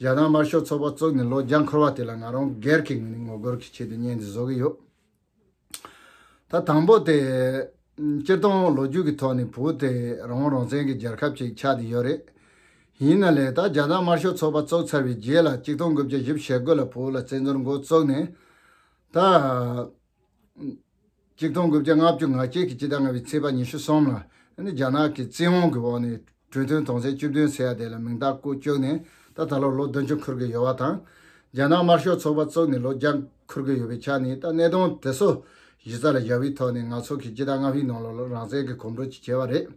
ཞག་གྲངས་དམར་ཤོག་ཚོགས་པ་བཙུགས་ནས་ལོ་བརྒྱ་འཁོར་བ་དེ་ལ་ང་རང་སྒེར་གྱི་ངོས་ནས་ངོ་རྒོལ་གྱི་ཆེད་དུ་བརྙན་འདི་བཟོ་གི་ཡོད། ད་དང་པོ་དེ། སྤྱིར་བཏང་ལོ་རྒྱུས་ཀྱི་ཐོག་ནས་བོད་དེ་རང་དབང་རང་བཙན་གྱི་རྒྱལ་ཁབ་ཅིག་ཆགས་ཏེ་ཡོད་རེད། ཡིན་ན་ལས་ད་ཞག་གྲངས་དམར་ཤོག་ཚོགས་པ་བཙུགས་ཚར་བའི་རྗེས་ལ་གཅིག་སྟོང་དགུ་བརྒྱ་བཞི་བཞི་བྱེད་དགོས་ལ་བོད་ལ་བཙན་འཛུལ་མགོ་བཙུགས་ནས་ད། གཅིག་སྟོང་དགུ་བརྒྱ་ལྔ་བཅུ་ང་བརྒྱད་ཀྱི་སྤྱི་ཟླ་ལྔ་བའི་ཚེས་པ་ཉི་ཤུ་གསུམ་ལ་རྒྱ་ནག་གི་བཙན་དབང་གི་འོག་ནས་གྲོས་མཐུན་དོང་ཚན་བཅུ་བདུན་ཟེར་ཡ་དེ་ལ་མིང་རྟགས་བཀོད་བཅུག་ནས་ད་ད་ལོར་ལོ་བདུན་ཅུ་འཁོར་གི་ཡོད་བ་དང། རྒྱ་ནག་དམར་ཤོག་ཚོགས་པ་བཙུགས་ནས་ལོ་བརྒྱ་འཁོར་གི་ཡོད་པའི་ཆ་ནས་ད་གནས་སྟངས་དེ་ཚོ་གཞི་རྩ་ལ་བཞག་བའི་ཐོག་ནས་ང་ཚོ་གིས་སྤྱི་ཟླ་ལྔ་བའི་ནང་ལོ་ལ་རང་བཙན་གྱི་གོམ་བགྲོད་ཅིག་བྱས་བ་རེད།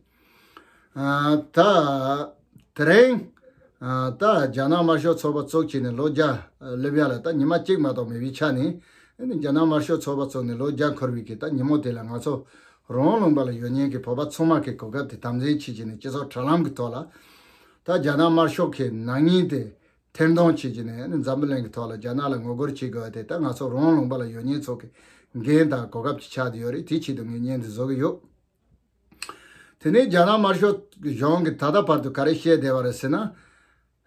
དེརིང་ད་རྒྱ་ནག་དམར་ཤོག་ཚོགས་པ་ཚོགས་ཆེད་ནས་ལོ་བརྒྱ་སླེབས་ཡ་ལ་ད་ཉི་མ་གཅིག་མ་གཏོགས་མེད་པའི་ཆ་ནས་རྒྱ་ནག་དམར་ཤོག་ཚོགས་པ་ཚོགས་ནས་ལོ་བརྒྱ་འཁོར་བའི་གི་ད་ཉི་མོ་དེ་ལ་ང་ཚོ་རོང་ལུང་པ་ལ་ཡོད་ཉེན་གི་བོད་པ་ཚོང་དམག་གི་གོ་སྐབས་དེ་དམ་འཛིན་བྱེད་ཆེད་ནས་སྤྱི་ཚོགས་དྲ་ལམ་གི་ཐོག་ལ་ད་རྒྱ་ནག་དམར་ཤོག་གི་ནག་ཉེན་དེ་ཐེར་མདོང་བྱེད་ཆེད་ནས་འཛམ་བུ་གླིང་གི་ཐོག་ལ་རྒྱ་ནག་ལ་ངོ་རྒོལ་བྱེད་དགོས་བ་དེ་ད་ང་ཚོ་རོང་ལུང་པ་ལ་ཡོད་ཉེན་ཚོགས་གི་འགན་དང་གོ་སྐབས་ཅིག་ཆགས་དེ་ཡོད་རེད་དེའི་ཆེད་དུ་ངས་བརྙན་འདི་བཟོ་གི་ཡོད། དེ་ནས་རྒྱ་ནག་དམར་ཤོག་གཞུང་གིས་ད་ལྟ་བར་དུ་ག་རེ་བཤད་བསྡད་པ་རེད་ཟེར་ན།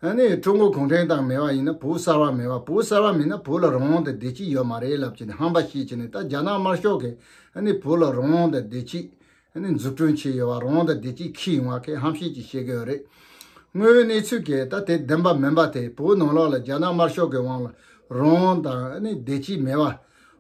ཧ་ནི་ཀྲུང་གོ་གུང་ཁྲན་ཏང་མེད་པ་ཡིན་ན་བོུ་གསར་བ་མེད་པ་བོུ་གསར་བ་མིན་ན་བོུ་ལ་རང་དབང་དང་བདེ་སྐྱིད་ཡོད་མ་རེད་ལབ་ཀྱི་ནས་ཧམ་པ་བཤད་ཀྱི་ནས་ད་རྒྱ་ནག་དམར་ཤོག་གིས་ཧ་ནི་བོུ་ལ་རང་དབང་དང་བདེ་སྐྱིད་ཧ་ནི་འཛུགས་སྐྲུན་བྱས་ཡོད་བ་རང་དབང་དང་བདེ་སྐྱིད་ཁི་ཡོང་བ་ཁེ་ཧམ་བཤད་ཀྱི་བཤད་གི་ཡོད་རེད། དངོས་ཡོད་གནས་ཚུལ་གི་ད་དེ་བདེན་པ་མིན་པ་དེ་བོུ་ནང་ལོག་ལ་རྒྱ་ནག་དམར་ཤོག་གི་དབང་ལ་རང་དབང་དང་ཧ་ནི་བདེ་སྐྱིད་མེད་བ་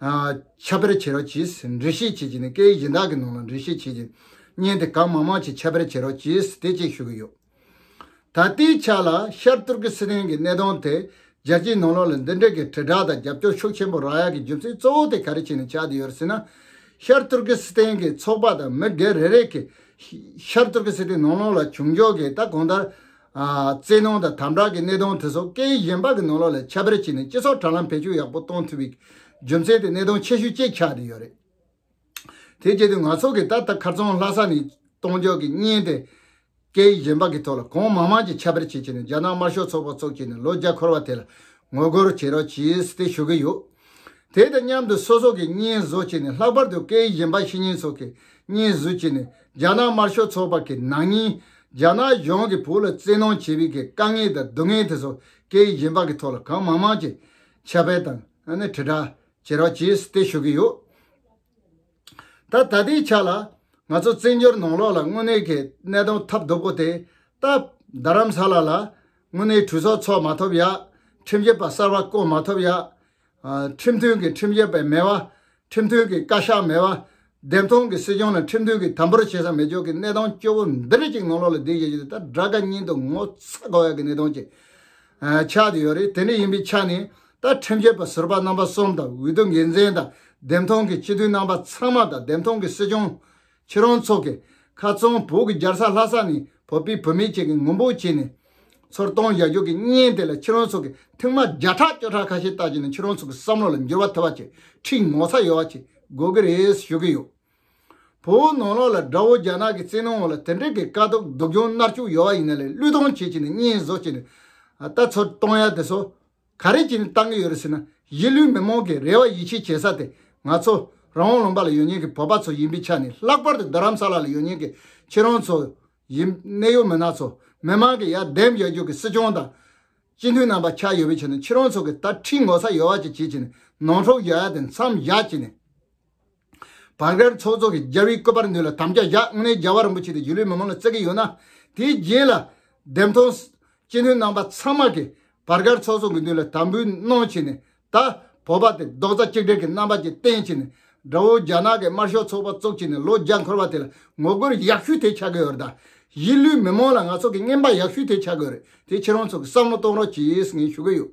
ཁྱབ་པར་བྱེད་རོགས་གྱིས་འགྲེལ་བཤད་བྱེད་ཀྱི་ནི་སྐད་ཡིག་གཞན་དག་གི་ནང་ལ་འགྲེལ་བཤད་བྱེད་ཀྱི་བརྙན་དེ་གང་མང་མང་ཞིག་ཁྱབ་པར་བྱེད་རོགས་གྱིས་དེ་བཅས་ཞུ་གི་ཡོད། ད་ལྟའི་ཆ་ལ་ཤར་ཏུར་ཀི་སི་ཐན་གྱི་གནས་སྟངས་དེ་རྒྱལ་སྤྱིའི་ནང་ལོགས་ལ་འདི་འདྲའི་གི་དྲིལ་བསྒྲགས་དང་རྒྱབ་སྐྱོར་ཤུགས་ཆེན་པོ་རག་ཡ་གི་རྒྱུ་མཚན་གཙོ་བོ་དེ་ག་རེ་བྱས་ནས་ཆགས་ཏུ་ཡོད་རེད་ཟེར་ན། ཤར་ཏུར་ཀི་སི་ཐན་གྱི་ཚོགས་པ་དང་མི་སྒེར་རེ་རེས་ཀྱིས་ཤར་ཏུར་ཀི་སི་ཐན་ནང་ལོགས་ལ་བྱུང་ཕྱོགས་ཀྱི་ད་གོང་ལྟར་རྩེད་ནང་དང་དམ་དྲག་གི་གནས་སྟངས་དེ་ཚོ་སྐད་ཡིག་གཞན་པ་གི་ནང་ལོགས་ལས་ཁྱད་པར་བྱས་ནས་སྤྱི་ཚོགས་དྲ་ལམ་བེད་སྤྱོད་ཡག་པོ་གཏོང་ཐུབ་པའི་རྒྱུ་མཚན་དེ་གནས་སྟངས་ཆེ་ཤོས་བཅས་ཆགས་བསྡད་ཡོད་རེད། དེ་བཅས་དུས་ང་ཚོ་གིས་ད་ལྟ་ཁར་རྫོང་ལྷ་ས་ནས་གཏོང་འཇོག་གི་བརྙན་དེ་སྐད་ཡིག་གཞན་པ་གི་ཐོག་ལ་གང་མང་མང་ཅིག་ཁྱད་པར་བྱེད་ཆེད་ནས་རྒྱ་ནག་དམར་ཤོག་ཚོགས་པ་གཙོ་བྱས་ནས་ལོ་བརྒྱ་འཁོར་བ་དེ་ལ་ངོ་རྒོལ་བྱེད་རོགས་ཞེས་དེ་ཞུ་གི་ཡོད། དེ་དང་མཉམ་དུ་སོ་སོ་གིས་བརྙན་བཟོ་བྱས་ནས་ལྷག་པར་དུ་སྐད་ཡིག་གཞན་པ་ཤེས་མཁན་ཚོ་གིས་བརྙན་བཟོ་བྱས་ནས་རྒྱ་ནག་དམར་ཤོག་ཚོགས་པ་གི་ནང་མྱི་རྒྱ་ནག་གཞུང་གི་བོད་ལ་བཙན་གནོང་བྱེད་པའི་གི་དཀའ་ངལ་དང་སྡུག་བསྔལ་དེ་ཚོ་སྐད་ཡིག་གཞན་པ་གི་ཐོག་ལ་གང་མང་མང་གྱི་ཁྱབ་སྤེལ་དང་ནི་དྲིལ་བསྒྲགས་བྱེད་རོགས་བྱེད་བསྟེ་ཞུ་གི་ཡོད། ད་ད་ལྟའི་ཆ་ལ་ང་ཚོ་བཙན་བྱོལ་ནང་ལོགས་ལ་དངོས་གནས་གི་གནས་སྟངས་ཐབས་སྡུག་པོ་དེ་སྟབས་བདག་རམ་ས་ལ་ལ་དངོས་གནས་གྲོས་ཚོགས་ཚོགས་མ་ཐོབ་ཡག་ཁྲིམས་ཞིབ་པ་གསར་བ་བསྐོ་མ་ཐོབ་ཡག། ཁྲིམས་མཐུན་གྱི་ཁྲིམས་ཞབས་པའི་མེད་པ། ཁྲིམས་མཐུན་གྱི་བཀའ་ཤག་མེད་པ། བདེན་སྟོང་གི་སྲིད་སྐྱོང་ལ་ཁྲིམས་མཐུན་གྱི་དམ་པོར་བྱེད་ས་མེད་ཕྱོགས་ཀྱི་གནས་སྟངས་སྐྱོ་བོ་འདི་རིགས་ཅིག་ནང་ལོགས་ལ་བསྡུས་བཞག་རྒྱུ་དེ་ད་དགྲ་དགའ་སྙིང་དུ་ངོ་ཚ་དགའ་བའི་གནས་སྟངས་ཅིག་ཆགས་བསྡད་ཡོད་རེད་དེ་འདྲ་ཡིན་པའི་ཆ་ནས་ད་ཁྲིམས་ཞབས་པ་ཟུར་པ་རྣམ་པ་གསུམ་དང་འོས་བསྡུ་འགན་འཛིན་དང་བདེན་སྟོང་གི་སྤྱི་འཐུས་རྣམ་པ་ཚང་མ་དང་བདེན་སྟོང་གི་སྲིད་སྐྱོང་ཁྱེད་རང་ཚོ་གི་ཁ་ཚོན་བོད་ཀྱི་རྒྱལ་ས་ལྷ་ས་ནས་བོད་པའི་བུད་མེད་ཅིག་གིས་ངུ་འབོད་བྱས་ནས་ཚོར་སྟོན་བཞག་རྒྱུ་གི་བརྙན་དེ་ལ་ཁྱེད་རང་ཚོ་གི་ཐེངས་མ་བརྒྱ་ཕྲག་བཅོ་ཕྲག་ཁ་ཤས་ལྟ་རྒྱུ་ནི་ཁྱེད་རང་ཚོ་གི་བསམ་བློ་ལ་འགྱུར་བ་ཐེབས་པ་ཆེ་ཁྲིག་ངོ་ཚ་ཡོད་བ་ཅིག་དགོས་གི་རེད་ཞུ་གི་ཡོད། བོད་ནང་ལོག་ལ་དགྲ་བོ་རྒྱ་ནག་གི་བཙན་གནོན་འོག་ལ་དེ་འདྲིག་གི་དཀའ་སྡུག་སྡུག་གྱོང་མནར་བཅུག་ཡོད་བ་ཡིན་ན་ལས་བླུས་གཏོང་བྱེད་ཅིག་ནས་བརྙན་བཟོ་བྱས་ནས་ད་ཚོར་སྟོན་ཡ་དེ་ཚོ་ག་རེ་བྱས་ནས་བཏང་གི་ཡོད་རེད་ཟེར་ན་གཞིས་ལུས་མི་མང་གི་རེ་བ་ཡིད་ཆེས་བྱེད་ས་དེ་ང་ཚོ་རང་དབང་ལུང་པ་ལ་ཡོད་ཉེན་གྱི་བོད་པ་ཚོ་ཡིན་པའི་ཆ་ནས་ལྷག་པར་དུ་རྡ་རམ་ས་ལ་ལ་ཡོད་ཉེན་གྱི་ཁྱེད་རང་ཚོ་ཡིན་གནད་ཡོད་མི་སྣ་ཚོ་མི་མང་གི་ཡ་འདེམས་རྒྱག་རྒྱུ་གི་སྲིད་སྐྱོང་དང་སྤྱི་འཐུས་རྣམ་པ་ཆགས་ཡོད་པའི་ཆ་ནས་ཁྱེད་རང་ཚོ་གི་ད་ཁྲིད་ངོ་ཚ་ཡོད་བ་ཅིག་བྱེད་ཅིག་ནས་ནང་འཁྲུག་རྒྱག་ཡ་དེ་མཚམས་བཞག་ཅིག་ནས། བར་སྐལ་ཚོགས་རྫོགས་ཀྱི་རྒྱལ་བའི་བཀོད་པར་འདོད་ལ་དམ་བཅའ་བཞག་སྔོན་གནས་རྒྱལ་བ་རིན་པོ་ཆེ་དེ་རྒྱུ་ལུས་མི་མང་ལ་བསྩལ་གྱི་ཡོད་ན་དེའི་རྗེས་ལ། འདེམས་ཐོན། སྤྱི་འཐུས་རྣམ་པ་ཚང་མ་གིས་བར་སྐལ་ཚོགས་རྫོགས་ཀྱི་འདུན་ལ་དམ་འབུལ་གནང་བྱས་ནས་ད་བོ་པ་དེ་རྡོག་རྩ་གཅིག་སྒྲིལ་གྱི་རྣམ་པ་ཅིག་བསྟན་བྱས་ནས་དགྲ་བོ་རྒྱ་ནག་གི་དམར་ཤོག་ཚོགས་པ་བཙུགས་བྱས་ནས་ལོ་བརྒྱ་འཁོར་བ་དེ་ལ་ངོ་རྒོལ་ཡག་ཤོས་དེ་ཆགས་ཀྱི་ཡོད་རེད་ད་གཞིས་ལུས་མི་མང་ལ་ང་ཚོ་གིས་རྔན་པ་ཡག་ཤོས་དེ་ཆགས་ཀྱི་ཡོད་རེད་དེ་ཕྱིར་རང་ཚོ་གིས་བསམ་བློ་གཏོང་རོགས་གྱིས་ངས་ཞུ་གི་ཡོད།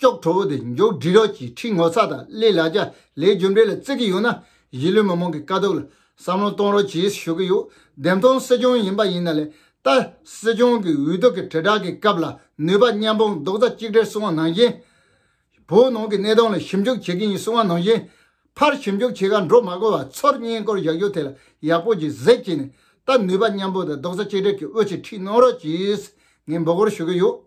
ཅོག་གྲོགས་པོ་དེ་མགྱོགས་འགྲིལ་རོགས་ཀྱིས་ཁྲིད་ངོ་ཚ་དང་གླེ་ལག་རྒྱ་ལེའི་རྒྱུ་འབྲས་ལ་བརྩི་གི་ཡོད་ན་གཞིས་ལུས་མི་མང་གི་དཀའ་སྡུག་ལ་བསམ་བློ་གཏོང་རོགས་གྱིས་ཞུ་གི་ཡོད་བདེན་སྟོང་སྲིད་སྐྱོང་ཡིན་པ་ཡིན་ན་ལས་ལྟ་སྲིད་སྐྱོང་གི་འུད་སྡུག་གི་དྲིལ་བསྒྲགས་ཀྱི་སྐབས་ལ་ནུས་པ་མཉམ་སྤུངས་རྡོག་རྩ་གཅིག་སྒྲིལ་སྲུང་བ་ནང་བཞིན་བོད་ནང་གི་གནས་སྟངས་ལ་ཞིབ་འཇུག་བྱེད་ཀྱི་ཡིན་སྲུང་བ་ནང་བཞིན་ཕར་ཞིབ་འཇུག་བྱེད་ཁར་འགྲོ་མ་དགོས་པར་ཚོར་སྙིང་སྐོར་བཞག་རྒྱུ་དེ་ལ་ཡག་པོ་གྱིས་གཟིགས་གྱིས་ནས་ལྟ་ནུས་པ་མཉམ་སྤུངས་དང་རྡོག་རྩ་གཅིག་སྒྲིལ་གྱིས་དབུ་ཆེ་ཁྲིད་གནང་རོགས་གྱིས་ངས་འབོད་སྐོར་ཞུ་གི་ཡོད།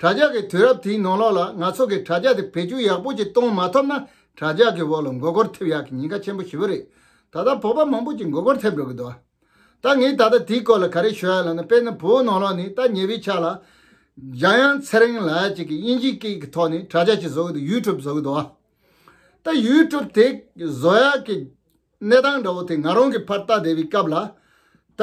དྲ་ཇག་གིས་དུས་རབས་དེའི་ནང་ལོགས་ལ་ང་ཚོ་གིས་དྲ་ཇག་དེ་བེད་སྤྱོད་ཡག་པོ་ཅིག་གཏོང་མ་ཐུབ་ན་དྲ་ཇག་གི་འོག་ལ་མགོ་སྐོར་ཐེབས་ཡག་གི་ཉེན་ཁ་ཆེན་པོ་ཞི་བོ་རེད། ད་ལྟ་བོད་པ་མང་པོ་ཅིག་མགོ་སྐོར་ཐེབས་འགྲོ་གི་འདུག་ད་ངས་ད་ལྟ་དེའི་སྐོར་ལ་ག་རེ་ཤོད་ཡ་ལ་ན་དཔེར་ན་བོད་ནང་ལོགས་ནས་ད་ཉེ་བའི་ཆ་ལ་འཇམ་དབྱངས་ཚེ་རིང་ལགས་ཅིག་གིས་དབྱིན་ཇིའི་སྐད་ཀྱི་ཐོག་ནས་དྲ་ཇག་ཅིག་བཟོ་གི་འདུག YouTube བཟོ་གི་འདུག་ད YouTube དེ་བཟོ་ཡག་གི་གནས་སྟངས་འདྲ་བོ་དེ་ང་རང་གིས་ཕར་བལྟ་བསྡད་པའི་སྐབས་ལ་ད།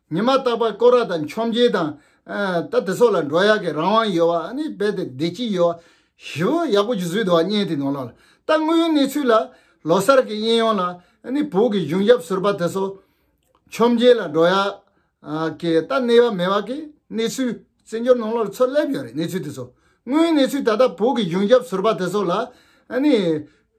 ཉི་མ་རྟག་པར་བསྐོར་བ་དང་འཆོམ་རྒྱལ་དང། ད་དེ་སོགས་ལ་འགྲོ་ཡག་གི་རང་དབང་ཡོད་བ་ནི་རྦད་དེ་བདེ་སྐྱིད་ཡོད་བ། ཞི་བོ་ཡག་པོ་ཇི་བཟོས་འདུག་བ་བརྙན་དེ་ནང་ལ་ལྟ་དངོས་ཡོད་གནས་ཚུལ་ལ། ལོ་སར་གྱི་དབྱིན་ཡོང་ལ་ནི་བོད་ཀྱི་གཞུང་ཞབས་ཟུར་པ་དེ་སོ། འཆོམ་རྒྱལ་ལ་འགྲོ་ཡག་གི་ད་གནས་བ་མེད་བ་གི་གནས་ཚུལ་བཙན་བྱོལ་ནང་ལོ་ལ་ཚོད་སླེབས་ཡོད་རེད་གནས་ཚུལ་དེ་སོ། དངོས་ཡོད་གནས་ཚུལ་ད་ལྟ་བོད་ཀྱི་གཞུང་ཞབས་ཟུར་པ་དེ་སོགས་ལ་ནི།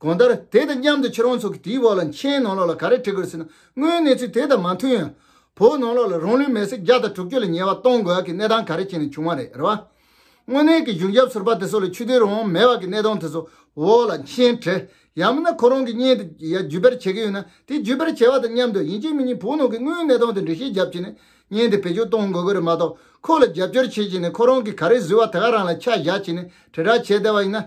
གང་ལྟར་དེ་དང་མཉམ་དུ་ཁྱེད་རང་ཚོ་གིས་དེའི་བར་ལ་མཆན་ནང་ལོགས་ལ་ག་རེ་བྲི་དགོས་ཟེར་ན་དངོས་གནས་ཚུལ་དེ་དང་མ་མཐུན་ཡང། བོད་ནང་ལོགས་ལ་རང་ལུས་མེར་སྲེག་བརྒྱ་དང་དྲུག་ཅུ་ལ་ཉེ་བ་གཏོང་དགོས་ཀྱི་གནས་སྟངས་ག་རེ་བྱས་ནས་བྱུང་བ་རེད་རེད་བ། དངོས་གནས་ཀྱི་གཞུང་ཞབས་ཟུར་པ་དེ་ཚོ་ལ་ཆུ་དོན་རང་མེད་བ་གི་གནས་སྟངས་དེ་ཚོ་འོག་ལ་མཆན་བྲི། ཡང་མིན་ན་ཁོ་རང་གི་བརྙན་དེ་བརྒྱུད་པར་བྱེད་ཀྱི་ཡོད་ན་དེ་བརྒྱུད་པར་བྱས་བ་དང་མཉམ་དུ་ཡིན་གཅིག་མིན་གཉིས་བོད་ནང་གི་དངོས་གནས་སྟངས་དེ་འབྲི་ཤེས་རྒྱབ་བྱས་ནས་བརྙན་དེ་བེད་སྤྱོད་གཏོང་དགོས་ཀྱི་རེད་མ་གཏོགས་ཁོ་ལ་རྒྱབ་སྐྱོར་བྱེད་བཞིན་ནས་ཁོ་རང་གིས་ག་རེ་བཟོས་བ་དེ་ག་རང་ལ་ཆ་བཞག་བྱས་ནས་དྲིལ་བསྒྲགས་བྱས་བསྡད་བ་ཡིན་ན་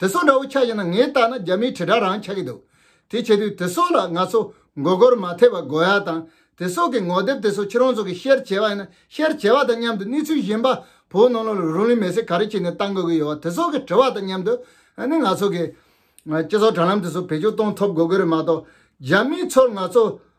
དེ་སོགས་འདྲ་བོ་ཆགས་ཡོད་ན་ངས་བལྟ་ན་རྒྱ་མིའི་དྲིལ་བསྒྲགས་རང་ཆགས་ཀྱི་འདུག་དེ་བྱེད་དུས་དེ་སོགས་ལ་ང་ཚོ་མགོ་སྐོར་མ་ཐེབས་པ་དགོས་ཡ་དང་དེ་སོགས་ཀྱི་ངོ་དེབ་དེ་སོགས་ཁྱེད་རང་ཚོ་གི་བཤེར་བྱས་པ་ཡིན་ན་བཤེར་བྱས་པ་དང་མཉམ་དུ་གནས་ཚུལ་གཞན་པ་བོད་ནང་ལ་རུ་ལིན་མེ་སི་ག་རེ་བྱས་ནས་བཏང་དགོས་ཀྱི་ཡོད་དེ་སོགས་ཀྱི་དྲི་བ་དང་མཉམ་དུ་ནི་ང་ཚོ་གི་སྤྱི་ཚོགས་དྲ་ལམ་དེ་སོགས་བེད་སྤྱོད་གཏོང་ཐོབ་དགོས་ཀྱི་རེད་མ་གཏོགས་རྒྱ་མིའི་ཚོར་ང་ཚོ་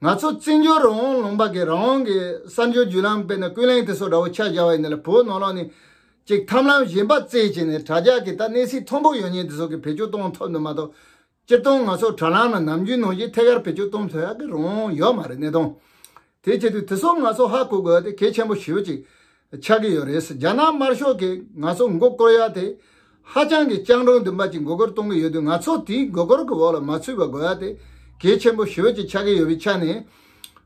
ང་ཚོ་བཙན་བྱོལ་རང་དབང་ལུང་པ་གིས་རང་དབང་གི་གསར་འབྱོར་བརྒྱུད་ལམ་སྤེལ་ནས་ཀུན་གླེང་དེ་སོགས་འདྲ་བོ་ཆ་བཞག་པའི་ནི་ལ་བོའི་ནོར་ལོག་ནི། གཅིག་ཐམས་ལམ་གཞན་པ་བརྩེགས་བྱས་ནས་དྲ་རྒྱ་གིས་ད་གནས་ཚིག་མཐོན་པོ་ཡོད་ཉེས་དེ་སོགས་ཀྱི་བེད་སྤྱོད་གཏོང་ཐོབ་འདུག་མ་གཏོགས། སྤྱིར་བཏང་ང་ཚོ་དྲ་ལམ་ན་ནམ་རྒྱུན་ནོར་གཞི་ཐད་ཀར་བེད་སྤྱོད་གཏོང་ཐུབ་ཡག་གི་རང་དབང་ཡོད་མ་རེད་གནས་སྟངས་དེ་ཆེད་དུ་དེ་སོགས་ང་ཚོ་ཧ་གོ་དགོས་པ་དེ་གལ་ཆེན་པོ་ཞེ་བོ་གཅིག། ཆགས་ཀྱི་ཡོད་རེད། རྒྱ་ནག་དམར་ཤོག་གིས་ང་ཚོ་མགོ་བསྐོར་ཡག་དེ། ཧ་ཅང་གི་སྤྱང་གྲུང་འདི་འབའ་ཅིག་མགོ་སྐོར་གཏོང་གི་ཡོད་དུས་ང་ཚོ་དེའི་མགོ་སྐོར་གི་འོག་ལ་མ་ཚུད་པ་དགོས་ཡག་དེ། གལ་ཆེན་པོ་ཞོད་ཅིག་ཆགས་ཀྱི་ཡོད་པའི་ཆ་ནས།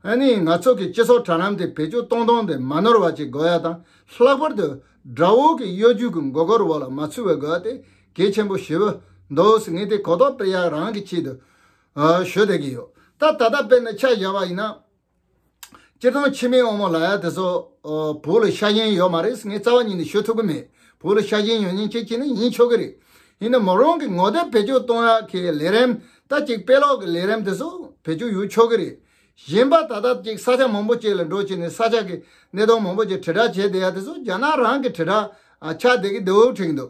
ཨ་ནི་ང་ཚོ་གི་སྤྱི་ཚོགས་དྲ་ལམ་དེ་བེད་སྤྱོད་གཏོང་གཏོང་དེ་མ་ནོར་བ་ཅིག་དགོས་ཡག་དང་ལྷག་པར་དུ། དགྲ་བོ་གི་གཡོ་སྒྱུ་གི་མགོ་སྐོར་འོག་ལ་མ་ཚུད་པ་དགོས་ཡག་དེ། གལ་ཆེན་པོ་ཞེ་བོ། འདོགས། ངས་དེ་གོ་རྟོགས་སྤེལ་ཡག་རང་གི་ཆེད་དུ། ཞོད་བསྡད་ཀྱི་ཡོད། ད་ད་ལྟ་དཔེར་ན་ཆ་བཞག་པ་ཡིན་ན། སྤྱིར་བཏང་ཕྱི་མའི་དབང་མོ་ལ་ཡ་དེ་ཚོ་བོད་ལ་ཤ་ཞེན་ཡོད་མ་རེད་ངས་རྩ་བ་ཉིད་ནས་ཤོད་ཐུབ་ཀྱི་མེད་བོད་ལ་ཤ་ཞེན་ཡོད་མིན་ཅེས་ཅི་ནས་ཡིན་ཆོག་གི་རེད། ཡིན་ན་མོ་རང་གི་ངོ་དེབ་བེད་སྤྱོད་གཏོང་ཡག་གི་ལས་རིམ་ད་ཅིག་དཔེ་ཀློག་གི་ལས་རིམ་དེ་ཚོ་བེད་སྤྱོད་ཡོད་ཆོག་གི་རེད། གཞན་པ་ད་ལྟ་ཅིག་ས་ཆ་མང་པོ་བཅས་ལ་འགྲོ་བྱས་ནས་ས་ཆ་གི་གནས་སྟངས་མང་པོ་བཅས་དྲིལ་བསྒྲགས་བྱས་བསྡད་ཡ་དེ་ཚོ་རྒྱ་ནག་རང་གི་དྲིལ་བསྒྲགས་ཆགས་བསྡད་ཀྱི་འདུག་དྲན་གྱི་འདུག་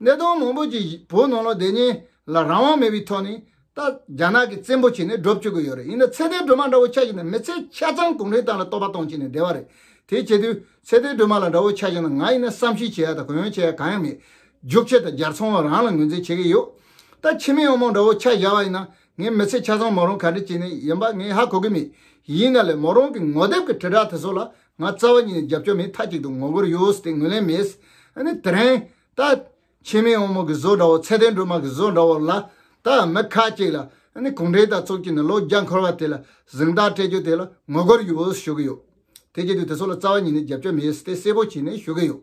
གནས་སྟོང་མང་པོ་ཅིག་བོད་ནང་ལ་བསྡད་ཉིན་ལ་རང་དབང་མེད་པའི་ཐོག་ནས་ད་རྒྱ་ནག་གིས་བཙན་པོ་བྱས་ནས་སྒྲུབ་བཅུག་གི་ཡོད་རེད་ཡིན་ན་ཚད་ལྡན་སྒྲོལ་མ་འདྲ་བོ་ཆགས་ཤིག་ན་མི་ཚེ་ཆ་ཚང་གུང་ཁྲན་ཏང་ལ་རྟོག་པ་གཏོང་བྱས་ནས་བསྡད་པ་རེད་དེ་བྱེད་དུས་ཚད་ལྡན་སྒྲོལ་མ་ལ་འདྲ་བོ་ཆགས་ཤིག་ན་ང་ཡིན་ན་བསམ་ཤེས་བྱེད་ཡ་དང་གུ་ཡངས་བྱེད་ཡ་གང་ཡང་མེད་རྒྱུག་ཁྱི་དང་རྒྱར་ཚང་བ་རང་ལ་ངོས་འཛིན་བྱེད་ཀྱི་ཡོད་ད་ཁྱི་མི་ཨང་མང་འདྲ་བོ་ཆགས་བཞག་པ་ཡིན་ན་ངའི་མི་ཚེ་ཆ་ཚང་མོ་རང་ག་འདྲི་བྱས་ནས་ཡིན་པ་ངས་ཧ་གོ་གི་མེད་ཡིན་ན་ལས་མོ་རང་གི་ངོ་དེབ་ཀྱི་དྲིལ་བསྒྲགས་དེ་ཚོ་ལ་ང་རྩ་བ་ཉིད་ནས་རྒྱབ་སྐྱོར་མེད་མཐའ་གཅིག་ཏུ་ངོ་རྒོལ་ཡོད་ཟེར་ཏེ་ངོས་ལེན་མེད། དེ་རིང། ད། ཕྱི་མའི་དབང་མོ་གི་བཟོ་འདྲ་བོ་ཚད་ལྡན་འགྲོ་དམངས་ཀྱི་བཟོ་འདྲ་བོ་ལ། ད། མི་ཁ་ཅིག་ལ། གུང་ཁྲན་ཏང་ཚོགས་ཀྱིས་ནི་ལོ་བརྒྱ་འཁོར་བ་དེ་ལ་གཟེངས་རྟགས་སྤྲད་རྒྱུ་དེ་ལ་ངོ་རྒོལ་ཡོད་ཞུ་གི་ཡོད། དེ་བྱེད་དུས་དེ་ཚོ་ལ་རྩ་བ་ཉིད་ནས་རྒྱབ་སྐྱོར་མེད་ཟེར་ཏེ་གསལ་པོ་བྱས་ནས་ཞུ་གི་ཡོད།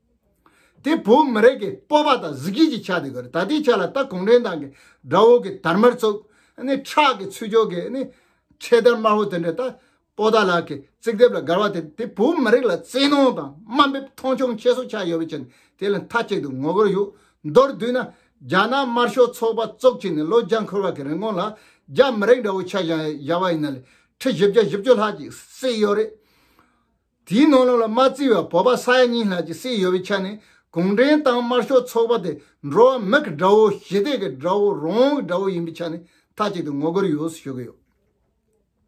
དེ་བོད་མི་རིགས་ཀྱི་སྤོབས་པ་དང་གཟི་བརྗིད་ཀྱི་ཆ་དེ་གོ་རེད་ད་ལྟའི་ཆ་ལ་ད་གུང་ཁྲན་ཏང་གི་དགྲ་བོ་གི་དར་དམར་ཚོགས་ཁྲག་གི་ཚུལ་འཆོས་གི་འཕྲེད་དར་དམར་བོ་དེ་འདྲ་ད་པོ་ཏཱ་ལགས་ཀྱི་རྩིག་ལྡེབས་ལ་དགར་བ་དེ་དེ་བོད་མི་རིགས་ལ་བཙན་གནོང་དང་དམའ་འབེབས་མཐོང་ཆུང་ཁྱད་གསོད་ཆགས་ཡོད་པའི་ཕྱིར་དེ་ལ་མཐའ་གཅིག་ཏུ་ངོ་རྒོལ་གཞུག་མདོར་བསྡུས་ན་རྒྱ་ནག་དམར་ཤོག་ཚོགས་པ་བཙུགས་ཕྱི་ནས་ལོ་བརྒྱ་འཁོར་བ་གི་རིན་གོང་ལ་རྒྱ་མི་རིགས་འདྲ་བོ་ཆ་བཞག་བཞག་པ་ཡིན་ན་ལས་ཁྲི་བཞི་བརྒྱ་བཞི་བཅུ་ལྷག་ཅིག་བསྲེགས་ཡོད་རེད། དེའི་ནང་ལོགས་ལ་མ་རྩིས་པར་བོད་པ་ས་ཡ་གཉིས་ལྷག་ཅིག་བསད་ཡོད་པའི་ཆ་ནས་གུང་ཁྲན་ཏང་དམར་ཤོག་ཚོགས་པ་དེ་འགྲོ་བ་མི་གི་དགྲ་བོ་ཞི་བདེ་གི་དགྲ་བོ་རང་དབང་གི་དགྲ་བོ་ཡིན་པའི་ཆ་ནས་མཐའ་གཅིག་ཏུ་ངོ་རྒོལ་ཡོངས་སུ་ཞུ་གི་ཡོད།